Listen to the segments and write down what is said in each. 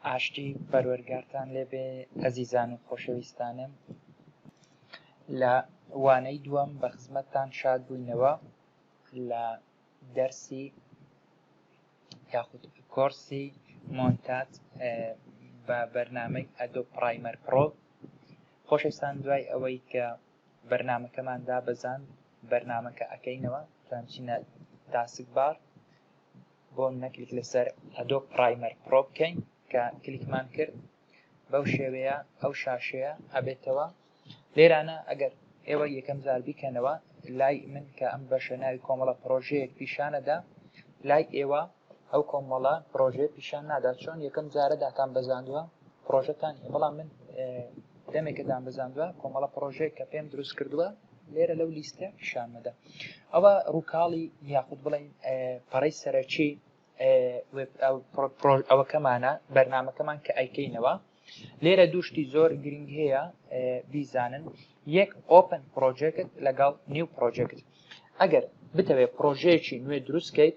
ئاشتی پەروەرگارتان لێبێ ئەزیزان و خۆشەویستانم لە وانەی دووەم بە خزمەتتان شاد بووینەوە لە دەرسی یاخود کۆرسی مۆنتات بە بەرنامەی ئەدۆ پرایمەر پرۆ خۆشەویستان دوای ئەوەی کە بەرنامەکەمان دابەزاند بەرنامە کە ئەکەینەوە تۆنچینە تاسک بار بۆ منە کلیک لەسەر ئەدۆ پرایمەر پرۆ بکەین کە کلیکمان کرد بەو شێوەیە ئەو شاشەیە ئەبێتەوە لێرانە ئەگەر ئێوە یەکەم جار بیکەنەوە لای من کە ئەم بەشە ناوی کۆمەڵە پرۆژەیەک پیشانەدا لای ئێوە ئەو کۆمەڵە پرۆژەیە پیشان نادات چۆن یەکەم جارە داتان بەزاندووە پرۆژەتان هەیە بەڵام من دەمێکە دام بەزاندووە کۆمەڵە پرۆژەیە کە پێم دروست کردووە لێرە لەو لیستە پیشان مەدە ئەوە ڕووکاڵی یاخود بڵین پەڕی سەرەکی ئەوەکەمانە بەرنمەکەمان کە ئەیکەینەوە لێرە دوشتی زۆر گرنگ هەیە بیزانن یەک ئۆپن پرۆژێکت لەگەڵ نیو پرۆژێکت ئەگەر بتەوێت پرۆژەیەکی نوێ دروستکەیت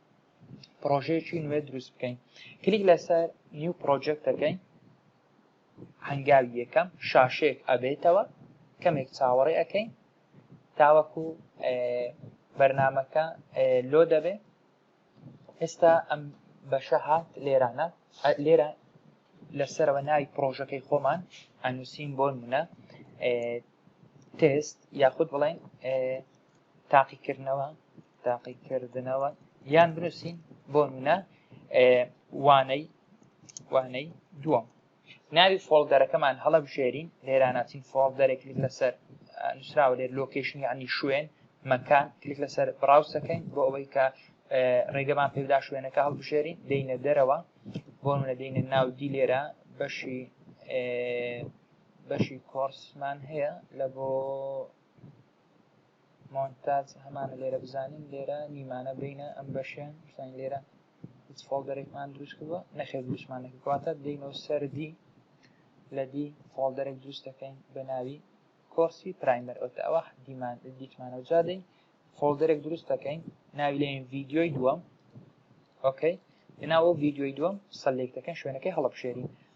پرۆژەیەکی نوێ دروست بکەین کلیک لەسەر نیو پرۆژێکت دەکەین هەنگاوی یەکەم شاشێک ئەبێتەوە کەمێک چاوەڕێ ئەەکەین تاوەکو بەرنمەکە لۆ دەبێ ئێستا ئەم بەشە هات لێرانە لێرە لەسەرەوە ناوی پرۆژەکەی خۆمان ئەنووسین بۆ منە تست یاخود بڵێن تاقیکردنەوە تاقیکردنەوە یان بنووسین بۆ نونە وانەی وانەی دووەم ناوی فۆڵدەرەکەمان هەڵەبژێرین لێراناتین فۆڵدەرێک کلیک لەسەر نووسراوە لێر لۆکیشن عنی شوێن مەکان کلیک لەسەر بڕاوسەکەین بۆ ئەوەی کە ڕێگەمان پێدا شوێنەکە هەڵبژێرین دەینە دەرەوە بۆ منە دەینە ناو دی لێرە بەشی بەشی کۆرسمان هەیە لە بۆ مۆنتاج هەمانە لێرە بزانین لێرە نیمانە بینە ئەم بەشیان شتان لێرە هیچ فۆڵدەرێکمان دروست کردوە نەخێ دروستمان نەکواتە دینەوە سەردی لە دی فۆڵدەرێک دروست دەکەین بە ناوی کۆرسی پرایمەر ئەوتە ئەوە دیمان دیتمانەوە جادەین فۆڵدەرێک دروست دەکەین ناوی لێن ڤیددیۆی دووەم ئۆکەی لەناوە ڤیددیۆی دووەم سەلێک دەکەن شوێنەکەی هەڵبژێرین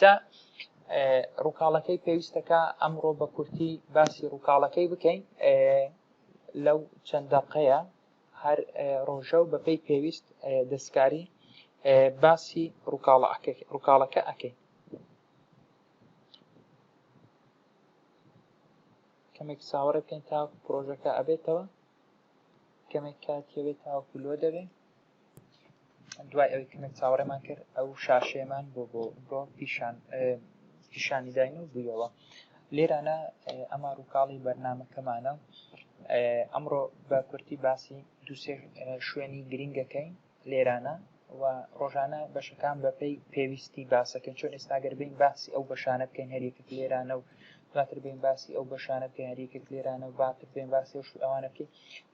جا ڕووکاڵەکەی پێویستە کە ئەمڕۆ بە کورتی باسی ڕووکاڵەکەی بکەین لەو چەند دەقەیە هەر ڕۆژە و بەپی پێویست دەستکاری باسی ڕووکاڵەکە ئەەکەین کەمێک ساوەڕێ بکەین تا پرۆژەکە ئەبێتەوە کەمێک کاتیەوێت تاوەکو لۆ دەبێت دوای ئەوی کەمێک چاوەڕێمان کرد ئەو شاشەیەمان بۆ بۆ بۆ پیشان پیشانی داین و بوویەوە لێرانە ئەمە ڕووکاڵی بەرنمەکەمانە ئەمڕۆ بە کورتی باسی دووسێ شوێنی گرنگەکەین لێرانە و ڕۆژانە بەشەکان بەپی پێویستی باسەکەن چۆن ئێستاگەر بین باسی ئەو بەشانە بکەین هەریەکە لێرانە و دواتر بێن باسی ئەو بەشانە بکە یاری کرد لێرانە و باتر بێن باسی ئەو ئەوانە بکەین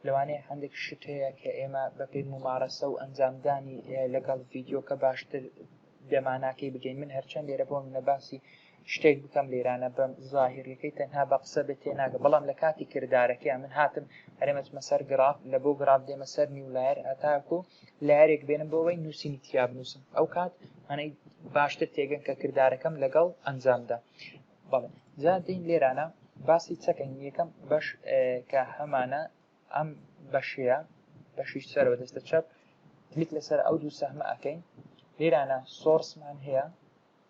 لەوانەیە هەندێک شت هەیە کە ئێمە بەپێی ممارەسە و ئەنجامدانی لەگەڵ ڤیددیوکە باشتر دەماناکەی بگەین من هەرچەند لێرە بۆ منە باسی شتێک بکەم لێرانە بەم ظاهریەکەی تەنها بە قسە بێت تێ ناگە بەڵام لە کاتی کردارەکەی من هاتم هەرێمەچمە سەر گراف لە بۆ گراف دێمە سەر نیولایەر هەتاکو لارێک بێنم بۆەوەی نووسینی تیا بنووسم ئەو کات هەنەی باشتر تێگەن کە کردارەکەم لەگەڵ ئەنجامدا بەڵێ جا دین لێرانە باسی چەکەین یەکەم بەش کە هەمانە ئەم بەشەیە بەشیش سەرەوە دەستە چەپ کلیک لەسەر ئەو دوو سەهمە ئەەکەین لێرانە سۆرسمان هەیە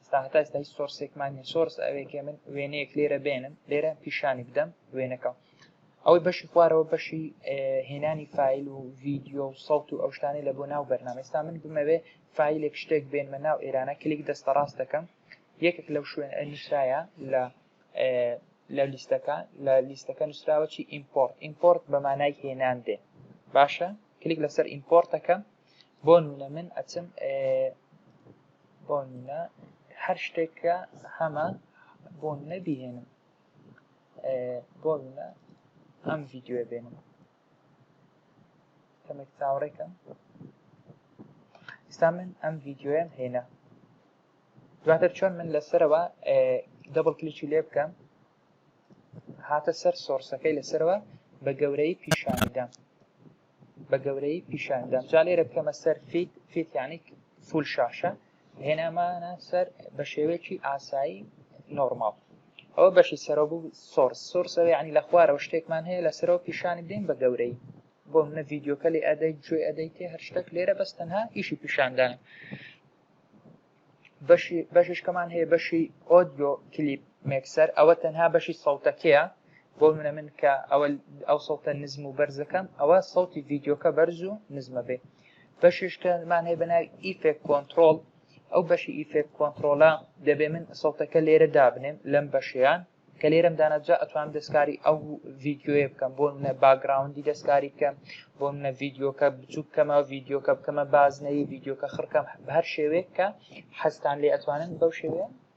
ئستا هەتا ئستا هیچ سۆرسێکمان نیە سۆرس ئەوێکێ من وێنەیەک لێرە بێنم لێرە پیشانی بدەم وێنەکە ئەوەی بەشی خوارەوە بەشی هێنانی فیل و ڤیددیو و سەڵت و ئەوشتانی لە بۆ ناو بەرنامەستا من بمەوێ فیلێک شتێک بێنمە ناو ئێرانە کلیک دەستە ڕاست دەکەم یەکێک لەو شوێنە نووسراە لە لە لیستەکە لە لیستەکە نووسراوە چی ئیمپۆرت ئیمپۆرت بە مانای هێنان دێ باشە کلیک لەسەر ئیمپۆرتەکە بۆ نمونە من ئەچم بۆ نمونە هەر شتێکە هەمە بۆ نەبیێنم بۆ نمونە ئەم ڤیددیوە بێنم کەمێک چاوەڕێ کەن ئستا من ئەم ڤیددیوەم هێنا دواتر چۆن من لەسەرەوە دەبڵ کلیچی لێ بکەم هاتە سەر سۆرسەکەی لەسەرەوە بە گەورەی پیشانیدام بە گەورەی پیشاندام جا لێرە بکەمە سەر فیت فیتیانی فول شاشە هێنامانە سەر بە شێوەیەکی ئاسایی نۆرماڵ ئەوە بەشی سەرەوە بوو سۆرس سۆرسەوە ینی لە خوارەوە شتێکمان هەیە لە سەرەوە پیشانی بدەین بە گەورەی بۆ منە ڤیددیوکە لێ ئەدەی گوێ ئەدەی تێ هەر شتێک لێرە بەس تەنها ئیشی پیشاندان بەشی بەششکەمان هەیە بەشی ئۆدیۆ کلیپ مێکسەر ئەوە تەنها بەشی سەوتەکەیە بۆ منە من کە ئەوە ئەو سەوتە نزم و بەرزەکەم ئەوە سەوتی ڤیددیوکە بەرز و نزمە بێ بەشیش کە مان هەیە بە ناوی ئیفێک کۆنترۆڵ ئەو بەشی ئیفێک کۆنترۆڵە دەبێ من سەوتەکە لێرە دابنێم لەم بەشیان کە لێرەم داناجا ئەتوانم دەستکاری ئەو ڤیددیوەیە بکەم بۆ منە باگراوندی دەستکاری بکەم بۆ منە ڤیددیوکە بچوو بکەمە ڤیددیوکە بکەمە بازنەی ڤیددیوکە خڕکەم بە هەر شێوەیە کە حەزتان لێ ئەتوانن بەو شێوەیە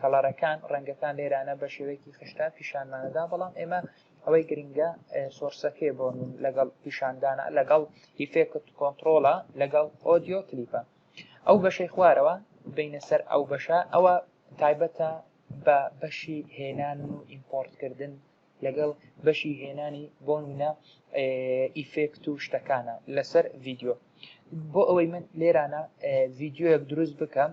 کەڵەرەکان، ڕەنگەکان لێرانە بە شێوەیەکی خشتە پیشانمانەدا بەڵام ئێمە ئەوەی گرنگە سۆرسەکەی بۆ من لەگەڵ پیشاندانە لەگەڵ ئیفێکت کۆنتترۆڵە لەگەڵ ئۆدیۆ کلیپە ئەو بەشەی خوارەوە بینە سەر ئەو بەشە ئەوە تایبەتە بە بەشی هێنان و ئیمپۆرتکردن لەگەڵ بەشی هێنانی بۆ منە ئیفێکت و شتەکانە لەسەر ڤیددیو بۆ ئەوەی من لێرانە ڤیددیوەک دروست بکەم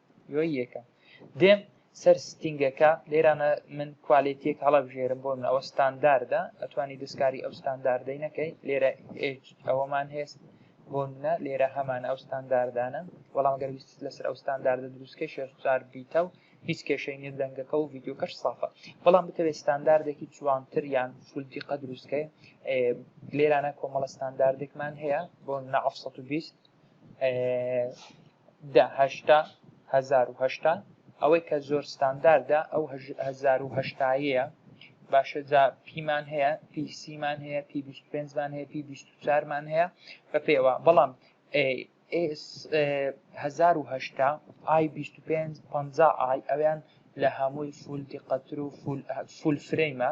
یۆی یەکەم دێم سەر ستینگەکە لێرانە من کوالێتیەک هەڵەبژێرم بۆ من ئەوە ستانداردە ئەتوانی دەستکاری ئەو ستانداردەی نەکەی لێرە ئەوەمان هێست بۆ منە لێرە هەمان ئەو ستانداردانە بەڵام گەر ویست لەسەر ئەو ستانداردە دروستکە شێزار بیتە و هیچ کێشەی نیە دەنگەکە و ڤیددیوکەش سافە بەڵام بتەوێت ستانداردێکی جوانتر یان فولدی قە دروستکەی لێرانە کۆمەڵە ستانداردێکمان هەیە بۆ نە 1920 دە هەشتا هەزار و هەشتا ئەوەی کە زۆر ستانداردە ئەو هەزار و هەشتایەیە باشە جا پیمان هەیە پی سیمان هەیە پی بیست پێنجمان هەیە پی بیست و چارمان هەیە بە پێوە بەڵام هەزار و هەشتا ئای بیست و پێنج پەنجا ئای ئەویان لە هەمووی فول دیقەتر و فول فرەیمە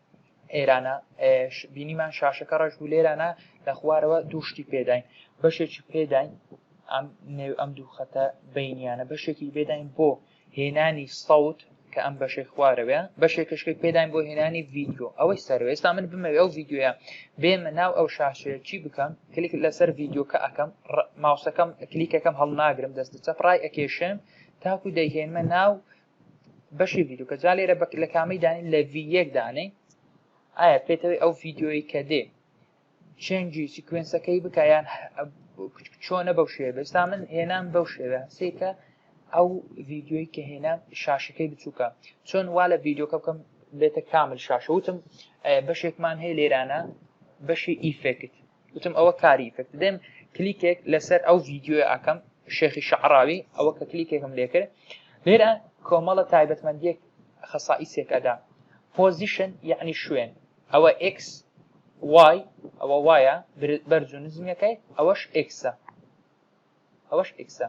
ئێرانە بینیمان شاشەکە ڕەش بوو لێرانە لە خوارەوە دوو شتی پێداین بەشێکی پێداین ئەم نێو ئەم دوو خەتە بینیانە بەشێکی بێداین بۆ هێنانی سەوت کە ئەم بەشەی خوارەوە بەشێکشکی پێداین بۆ هێنانی ڤیددیو ئەوەی سەرەوە ئێستا من بمەوێ ئەو ڤیددیوە بێمە ناو ئەو شاشەیە چی بکەم کلیک لەسەر ڤیددیوکە ئەەکەم ماوسەکەم کلیکەکەم هەڵناگرم دەست چەپ ڕای ئەکێشێم تاکو دەیهێنمە ناو بەشی ڤیدیو کە جا لێرە بەک لە کامەی دانین لە ڤی یەک دانەی ئایا پێتەوەی ئەو ڤیددیۆی کە دێ چێنجی سیکوێنسەکەی بکیان چۆنە بەو شێوە بێستا من هێنام بەو شێوە سێکە ئەو ڤیددیۆی کە هێنا شاشەکەی بچووکە چۆن وا لە ڤیددیۆکە بکەم بێتە کامل شاشە وتم بەشێکمان هەیە لێرانە بەشی ئیفێکت وتم ئەوە کاری ئیفێکتە دێم کلیکێک لەسەر ئەو ڤیدیۆیە ئەکەم شێخی شەعراوی ئەوە کە کلیکێکم لێ کرد لێرە کۆمەڵە تایبەتمەندیەک خەسائیسێک ئەدا پۆزیشن یعنی شوێن ئەوە ئکس وای ئەوە وایە بەرز و نزمیەکەی ئەوەش ئکسە ئەوەش ئکسە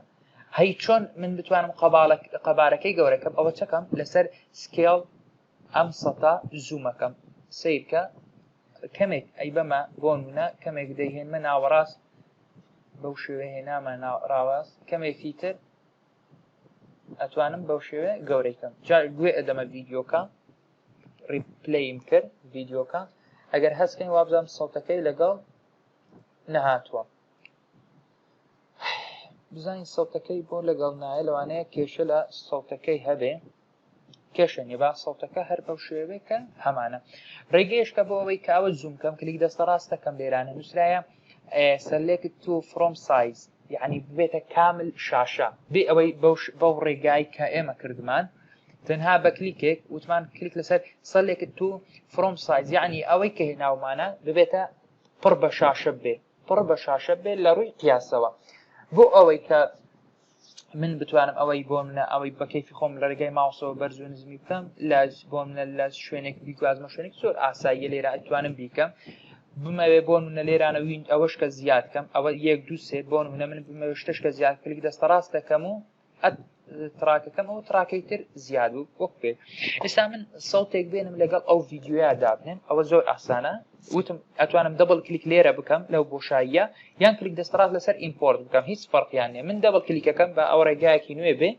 هەی چۆن من بتوانم قەبارەکەی گەورەکەم ئەوە چەکەم لەسەر سکێڵ ئەم سەتە زوومەکەم سەیرکە کەمێک ئەی بەمە بۆنمونە کەمێک دەیهێنمە ناوەڕاست بەو شێوێ هێنامە ناڕاواست کەمێکی تر ئەتوانم بەو شێوێ گەورەیکەم جا گوێ ئەدەمە ڤیددیوکە ریپلیم کرد ڤیددیوکە ئەگەر هەستکەین وابزانام سەڵتەکەی لەگەڵ نەهاتووە بزانین سەڵتەکەی بۆ لەگەڵ نایە لەوانەیە کێشە لە سەڵتەکەی هەبێ کێشە نیە با سەوتەکە هەر بەو شێوێ کە هەمانە ڕێگەیشکە بۆ ئەوەی کاوە زووم کەم کلیک دەستە ڕاستەکەم لێرانە نووسراە سەلێکت تو فرۆم سایز یعنی ببێتە کامل شاشە بێ ئەوەی بەو ڕێگای کە ئێمە کردمان تەنها بە کلیکێک وتمان کلیک لەسەر سەلێکت تو فرۆم سایز یعنی ئەوەی کە هێناومانە ببێتە پڕ بە شاشە بێ پڕ بە شاشە بێ لە ڕووی قیاسەوە بۆ ئەوەی کە من بتوانم ئەوەی بۆ منە ئەوەی بە کەیفی خۆم لە ڕێگای ماوسەوە بەرز و نزمی بکەم لە بۆ منە لە شوێنێک بیگوازمە شوێنێک زۆر ئاساییە لێرە ئەتوانم بیکەم بمەوێ بۆ منە لێرانە وین ئەوەش کە زیاد کەم ئەوە یەک دوو سێ بۆ منە من بمەوێ شتش کە زیاد کلیک دەستە ڕاست دەکەم و تراکەکەم ئەو تراکەی تر زیاد و وەک پێ ئێستا من سەوتێک بێنم لەگەڵ ئەو ڤیددیویا دابنێم ئەوە زۆر ئاسانە وتم ئەتوانم دەبڵ کلیک لێرە بکەم لەو بۆشاییە یان کلیک دەستڕاست لەسەر ئیمپۆرت بکەم هیچ فەرقیان نیە من دەبڵ کلیکەکەم بە ئەو ڕێگایەکی نوێ بێ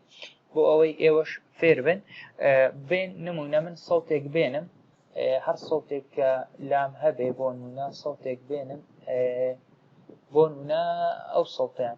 بۆ ئەوەی ئێوەش فێر بن بێن نمونە من سەوتێک بێنم هەر سەوتێک کە لام هەبێ بۆ نمونە سەوتێک بێنم بۆ نمونە ئەو سەوتیان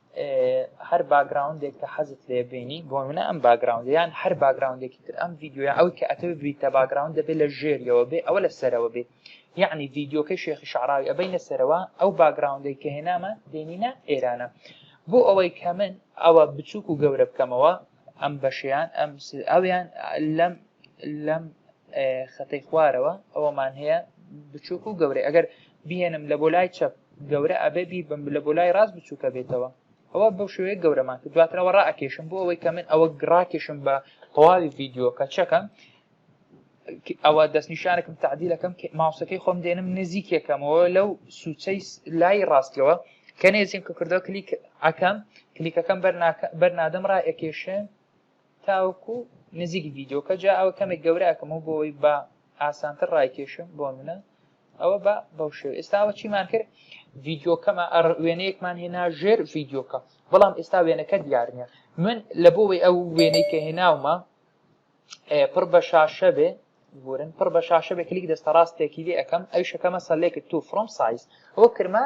هەر باگراوندێک کە حەزت لێ بینی بۆ منە ئەم باگراوند یان هەر باگراوندێکی تر ئەم یددیوە ئەوی کە ئەتەوێت بریتە باگراوند دەبێت لە ژێریەوە بێ ئەوە لە سەرەوە بێ یعنی یددیوکەی شێخی شعراوی ئەبینە سەرەوە ئەو باگراوندەی کە هێنامە دێنینە ئێرانە بۆ ئەوەی کە من ئەوە بچووک و گەورە بکەمەوە ئەم بەشیان ئەم ئەویان لەم لەم خەتەی خوارەوە ئەوەمان هەیە بچووک و گەورەی ئەگەر بهێنم لە بۆ لای چەپ گەورە ئەبێ بیر بم لە بۆ لای ڕاست بچووکە بێتەوە ئەوە بەو شوێ گەورەمان کە دواترەوە ڕاکێشم بۆ ئەوەی کە من ئەوە گڕاکێشم بە تەواوی ڤیددیوکە چەکەم ئەوە دەستنیشانەکەم تعدیلەکەم ماوسەکەی خۆم دێنم نزیکێکەمەوە لەو سوچەی لای ڕاستیەوە کە نێزیم کە کردەوە کلیک ئەکەم کلیکەکەم بەرنادەم ڕائەکێشێ تاوەکو نزیک ڤیدۆکە جا ئەوە کەمێک گەورە ئەکەمەوە بۆوەی با ئاسانتر ڕایکێشم بۆنمونە ئەوە بە بەو شێو ئێستا ئەوە چیمان کرد ڤیدۆکەمە ئەڕ وێنەیەکمان هێنا ژێر ڤیدۆکە بەڵام ئێستا وێنەکە دیار نیە من لە بۆوەی ئەو وێنەی کە هێناومە پڕ بە شاشە بێ بورن پڕ بە شاشە بێ کلیک دەستە ڕاستێکی لێ ئەەکەم ئەوشەکەمە سەلێکت تو فرۆم سایز ئەوە کرمە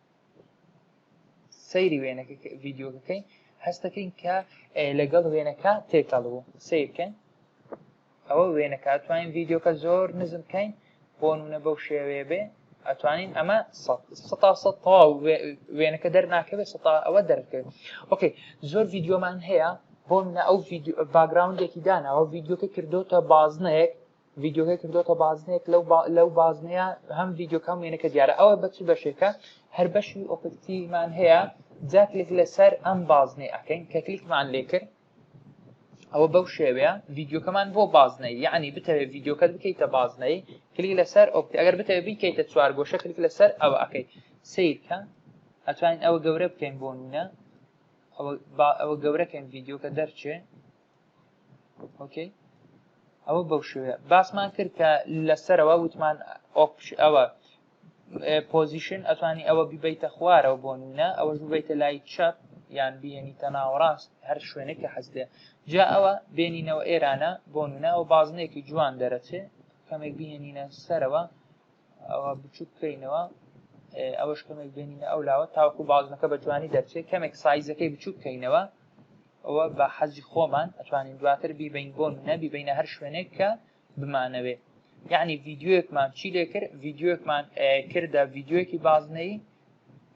سەیری وێنەکە ڤیددیوکەکەی هەستەکەین کە لەگەڵ وێنەکە تێکەڵ بوو سیرکەین ئەوە وێنەکە توانین ڤیددیوکە زۆر نزم بکەین بۆ نونە بەو شێوەیە بێ ئەتوانین ئەمە تەواو وێنەکە دەرناکەوێت ستا ئەوە دەرکرد ئۆکەی زۆر ڤیددیومان هەیە بۆ منە ئەو باگراونندێکی داناوە ڤیددیوکە کردوتە بازنەیەک ڤیدیۆکە کردۆتە بازنەیەک لەو لەو بازنەیە هەم ڤیددیوکە هەم وێنەکە دیارە ئەوە بەچ بەشێکە هەر بەشی ئۆپکتیمان هەیە جا کلک لەسەر ئەم بازنەی ئەکەین کە کلیکمان لێ کرد ئەوە بەو شێوەیە ڤیددیوکەمان بۆ بازنەی یعنی بتەوێت ڤیددیوکەت بکەیتە بازنەی کلی لەسەر ئۆپتی ئەگەر بتەوێت بیکەیتە چوار گۆشە کلیک لەسەر ئەوە ئەەکەیت سیرکە ئەتوانین ئەوە گەورە بکەین بۆ نونە ئەوە گەورەکەین ڤیددیوکە دەرچێ ئۆکەی ئەوە بەو شوێ باسمان کرد کە لەسەرەوە وتمان ئۆپش ئەوە پۆزیشن ئەتوانی ئەوە بیبیتە خوارەوە بۆ نونە ئەوە ببیتە لای چەپ یان بێنی تەناوەڕاست هەر شوێنێک کە حەزێ جا ئەوە بێنینەوە ئێرانە بۆ نونە ئەو بازنێکی جوان دەرەچێ کەمێک بهێنینە سەرەوە ئەوە بچوک بکەینەوە ئەوەش کەمێک بێنینە ئەو لاوە تاوەکو بازنەکە بە جوانی دەرچێت کەمێک سایزەکەی بچوک بکەینەوە ئەوە بە حەزی خۆمان ئەتوانین دواتر بیبین بۆ منە بیبینە هەر شوێنێک کە بمانەوێ یعنی ڤیددیوەکمان چی لێ کرد ڤیددیوەکمان کردە ڤیددیوەکی بازنەی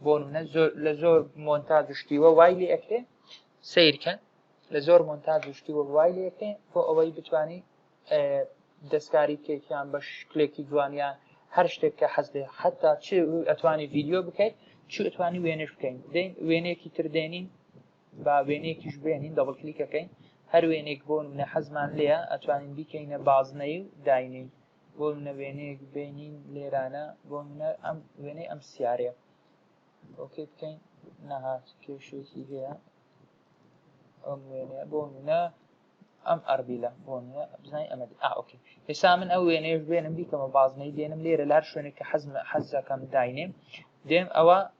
بۆ منە زۆر لە زۆر مۆنتا دشتیوە وای لێ ئەکرێ سیرکەن لە زۆر مۆنتا دشتیوە وای لێ ئەکرێ بۆ ئەوەی بتانی دەستکاری کێکیان بە شکلێکی جوانیان هەر شتێک کە حەز لێ حتا چ ئەتوانی ڤیددیو بکەیت چ ئەتوانی وێنش بکەین وێنێکی تردێنین با وێنەیەکیش بێنین دەبڵ کلیکەکەین هەر وێنێک بۆ نمونە حەزمان لێە ئەتوانین بیکەینە بازنەی و داینین بۆ منە وێنەیەک بینین لێرانە بۆ منە ئەم وێنەی ئەم سیارەیە ئۆکەی بکەین نەهات کێشێکی هەیە ئەم وێنە بۆ منە ئەم ئەربیلە بۆ منە بزانین ئەمە ئاوکە ئێستا من ئەو وێنەیەش بێنم بیکەمە بازنەی دێنم لێرە لار شوێنێک کە حەزم حەزەکەم داینێ دێم ئەوە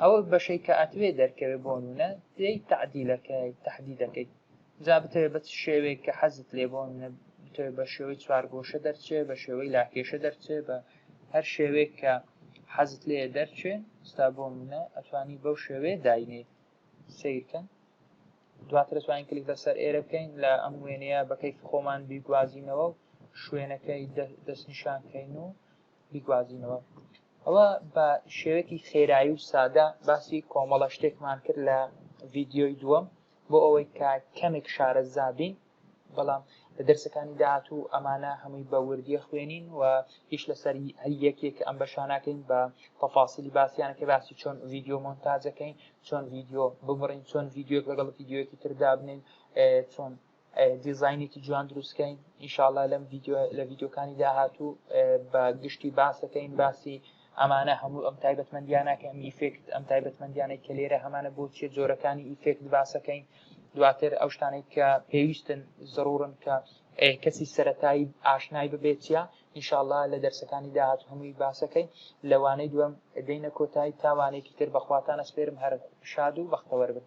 ئەو بەشەی کە ئەتوێ دەرکەوێ بۆنونە تێی تەعدیلەکەی تەحدیدەکەی جا بتەوێ بە چ شێوەیەک کە حەزت لێ بۆنە بتەوێ بە شێوەی چوارگۆشە دەرچێ بە شێوەی لاکێشە دەرچێ بە هەر شێوەیەک کە حەزت لێ دەرچێ ستا بۆنە ئەتوانی بەو شێوەیە داینێ سیرکەن دواتر توانین کلیک لەسەر ئێرە بکەین لە ئەم وێنەیە بەکەی خۆمان بیگوازینەوە و شوێنەکەی دەستنیشانکەین و بیگوازینەوە ئەوە بە شێوەیەکی خێرایی و سادە باسی کۆمەڵە شتێکمان کرد لە ڤیددیۆی دووەم بۆ ئەوەی کە کەمێک شارە زابین بەڵام لە دەرسەکانی داات و ئەمانە هەمووی بە وردیە خوێنین و هیچ لەسەر هەر یەکێک ئەم بەشانەکەین بە تەفاسیلی باسییانە کە باسی چۆن ڤیددیو مۆنتاجەکەین چۆن ڤیددیو ببڕین چۆن ڤیددیوک لەگەڵ ڤیددیوەکی تردابنین چۆن دیزاینێکی جوان دروستکەین ئینشاالله لەم لە ڤیددیوکانی داهاتوو بە گشتی باسەکەین باسی ئەمانە هەموو ئەم تایبەتمەندیانەکە ئەم ئیفێکت ئەم تایبەتمەندیانە کە لێرە هەمانە بۆ چیە جۆرەکانی ئیفێکت باسەکەین دواتر ئەو شتانێک کە پێویستن زڕورن کە کەسی سەتایی ئاشنای ببێتە ئینشاالله لە دەرسەکانی داهات هەمووی باسەکەی لەوانەی دوم دەینە کۆتایی تاوانێکی تر بەخواتانە سپێرم هەر شاد و بەختەوەربن